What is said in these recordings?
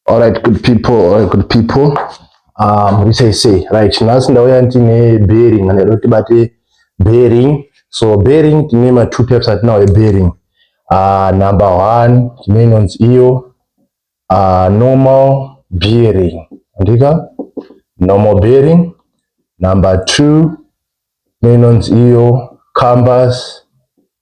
Alright good people, alright good people. Um, we say say right nhasi ndauya ndine bearing and roti bate bearing so bearing tine ma two types atinawo e bearing uh, number one tine inonzi iyo uh, normal bearing andika normal bearing number two tine inonzi iyo compass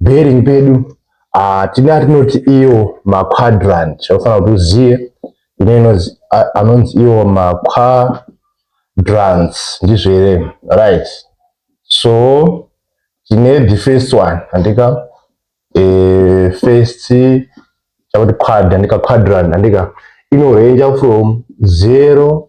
bearing pedu uh, tine atinoti iwo maquadrant chaufanira kuti uzive ine inonzi anonzi iwo maquadrant ndizvo here right so tine the first one andika e, first chakuti quad andika quadrant andika inorenja from zero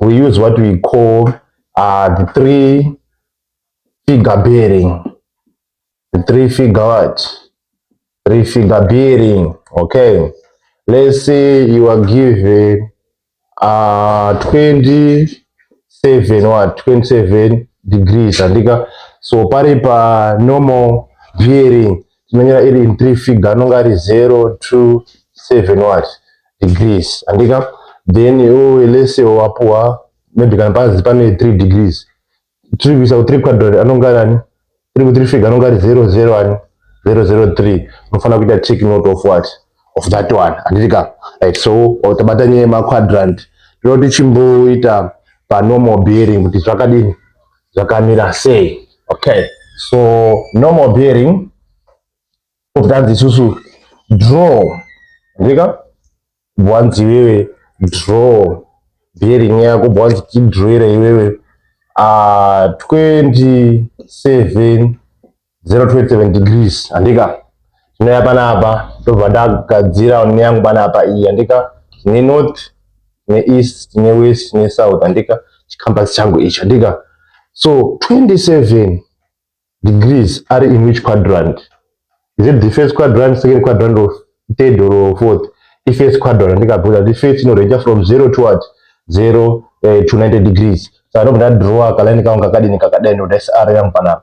we use what we call uh, the three figure bearing the three figure what three figure bearing okay let's say you are given uh 27 what 27 degrees andika so pari pa normal bearing tinonyora iri in three figure anonge ari zero two seven what degrees andika then iwewe lese wapuwa maybe kana panzi pane three degrees tiri kuisa kuthree quadrant anonge ari ani tiri kuthree figure anonge ari zero zero ani zero zero three unofanira kuita take note of what of that one handiti ka right so tabata nyaya yemaquadrant tinoti chimboita panormal bearing kuti zvakadini zvakamira sei okay so normal bearing kutanzi isusu draw ndika bwanzi iwewe draw bearing yako bwanzi tidroere iwewe uh, ah, 27 027 degrees handika ndinouya panapa ndobva ndagadzira ne yangu panapa iyi handika tine north tine east tine west tine south handika chikambasi changu ichi handika so 27 degrees are in which quadrant is it the first quadrant second quadrant or third or fourth if first quadrant ndikabvunza kuti first inoreja from zero to what zero uh, to 90 degrees so anobva ndadrawa kalaini kangu kakadini kakadai ndodaisa r yangu panapa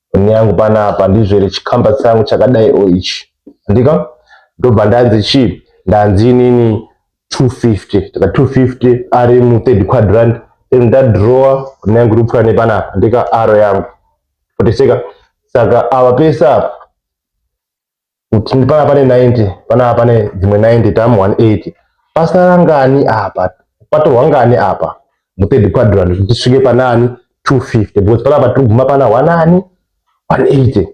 Foni yangu panapa ndizvere chikamba changu chakadai o ichi. Andika? Ndobva ndanzi chii? Ndanzi inini 250. Taka 250 ari mu third quadrant. Then ndadrawer foni yangu iri kupfuura nepanapa. Andika aro yangu. Poteseka. Saka ava pese apa kuti pana pane 90 pana pane dzimwe 90 tamu 180 pasara ngani apa patorwa ngani apa muthird quadrant kuti tisvike panani 250 because panapa tiri kuguma pana wanani 180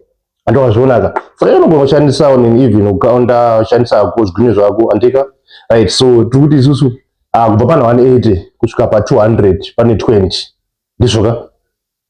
andowazvionaka saka unogona kushandisawo nini even ukaonda ushandisa ko zvigwinyo zvako andika right so tiri kuti isusu uh, kubva pana 180 kusvika pa 200 pane 20 ndizvoka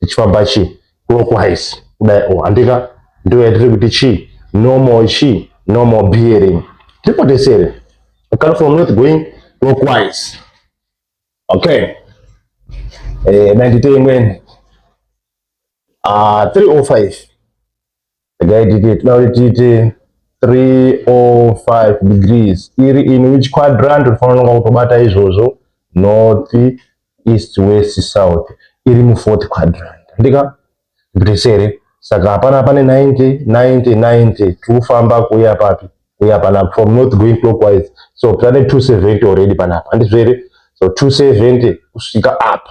tichifamba chii clockwise kudai o oh, handika ndiyo yatiri kuti chii normal chii normal bearing tipotesere ukati from north going clockwise okay eh, 92 imweni uh, 305 regai titi tinoda kuti tiite 305 degrees iri in which quadrant unofanira kunonga kutobata izvozvo north east west south iri mufourth quadrant ndika ndipitese here saka hapana pane 90 90 90 tiri kufamba kuuya papi kuuya panapa from north going clockwise so tane 270 already panapa handizvo here so 270 kusvika apa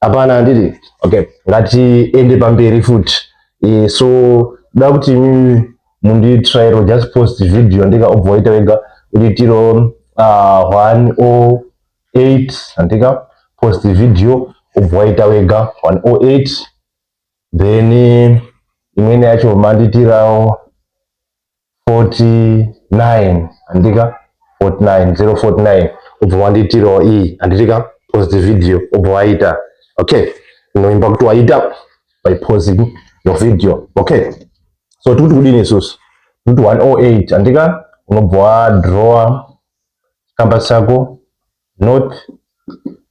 hapana handiti okay ngatiende pamberi futi e, so da kuti imimi munditrairo just post video ndika obva waita wega uchiitiro uh, one o oh eight handika post video obva waita wega one o oh eight then imweni yacho manditirawo 49 handitika 49 049 ubva wandiitirawo iyi handitika pause the video ubva waita okay inoimba kuti waita by pausing your video okay so tikuti kudini isusu tikuti 108 handika unobva wadrawa chikamba chako north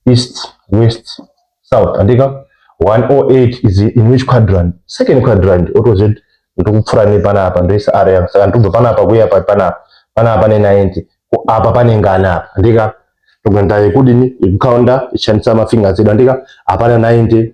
east west south andika 108 is in which quadrant second quadrant otoziva kuti ndokupfura nepanapa ndoisa area yangu saka ndikubva panapa kuya papi panapa panapa pane 90 apa pane ngani apa andika togenda yekudini yekukaunda ichishandisa mafingers edu andika hapana 90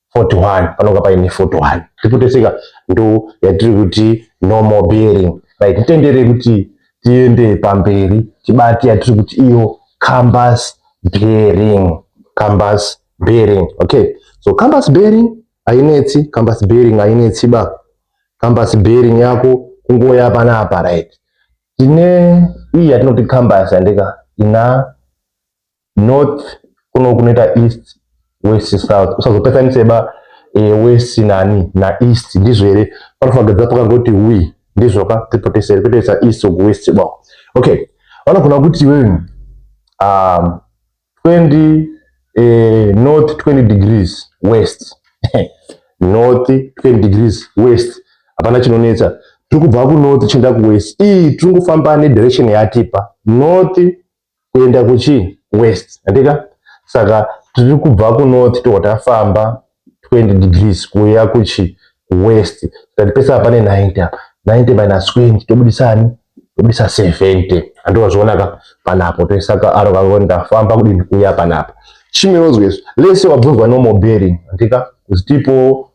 41 panonga paine 41 tipoteseka ndo yatiri kuti no more bearing right titendere kuti tiende pamberi tibati yatiri kuti iyo cambus bearing cambus bearing okay so cambus bearing hainetsi cambus bearing hainetsi ba cambus bearing yako kungoya panapa right tine iyi yatinoti cambus yandika ina north kuno kunoita east west south usazopesanise ba e, west nani naeast ndizvo here panofagidza pakangoti we ndizvo ka tipotesere kutoisa east or west ba okay vanogona kuti iwe um, 20 eh, north 20 degrees west north 20 degrees west hapana chinonetsa tiri kubva kunorth tichienda kuwest ii tiri kufamba nedirection yatipa north kuenda kuchii west handika saka tiri kubva kunorth tobva tafamba 20 degrees kuuya kuchi west tikati pese apa ne 90 apa 90 minus 20 tobudisa ani tobudisa 70 handi wazvionaka panapo toisa kaaro kako ndafamba kudini kuuya panapa chimwe wozwa izvo lese wabvunzwa normal bearing handika kuti tipo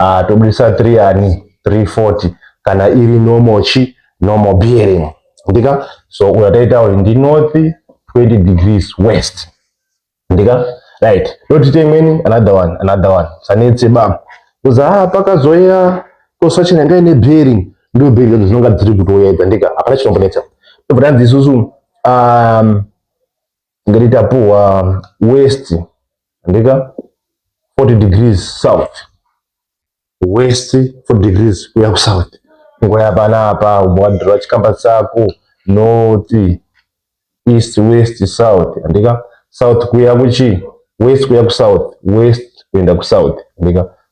uh, tobudisa 3 yani 340 kana iri normal chi normal bearing ndika so uya taita uri ndi north 20 degrees west ndika right totite imweni another one another one sanetse ba kuza ah, pakazoya kosachina ngai ne bearing ndo bearing dzinonga dziri kutouya idza ndika hapana chinombonetsa tobva tanzi isusu um, Tingati tapuhwa west andika 40 degrees south west 40 degrees kuya kusouth ngoya panapa umbwadhura chikamba chako north east west south andika south kuya kuchi west kuya kusouth west kuenda kusouth andika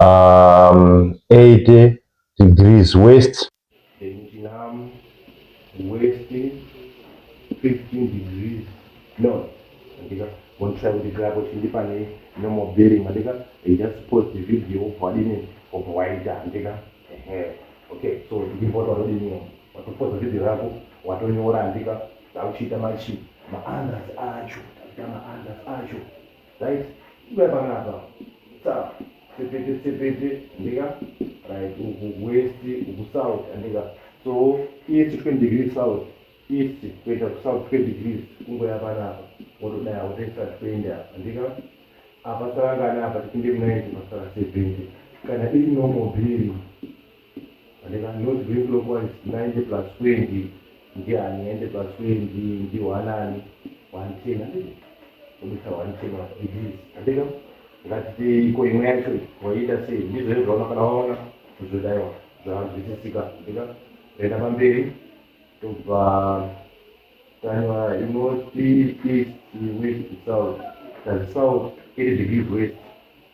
um, 80 degrees west Benjinamu west 15 degrees north andika wondisa kuti grapo chindi pane normal bearing andika they just post the video of wadini of waita andika ehe okay so ndivota wadini watopoza video yako watonyora andika tauchiita machi maandas acho takuita maandas acho right uya panapa tap tsepete tsepete andika right uku west uku south andika so east 20 degrees south east kuenda kusouth 20 degrees kungoya panapa wotodaya wotoisa 20 apa andika apa sarangana apa tipinde ku 90 pasara 70 kana iri normal bearing Vane vanoti ve clockwise 90 plus 20 ndiani ende plus 20 ndihwanani 110 handiti kubisa 110 wa disease handika ngatitei ko imwe yacho waiita sei ndizvo izvona kana waona kuzodaiwa zvanzwisisika handika toenda pamberi tobva tanyora inoti east west south tazi south iri degrees west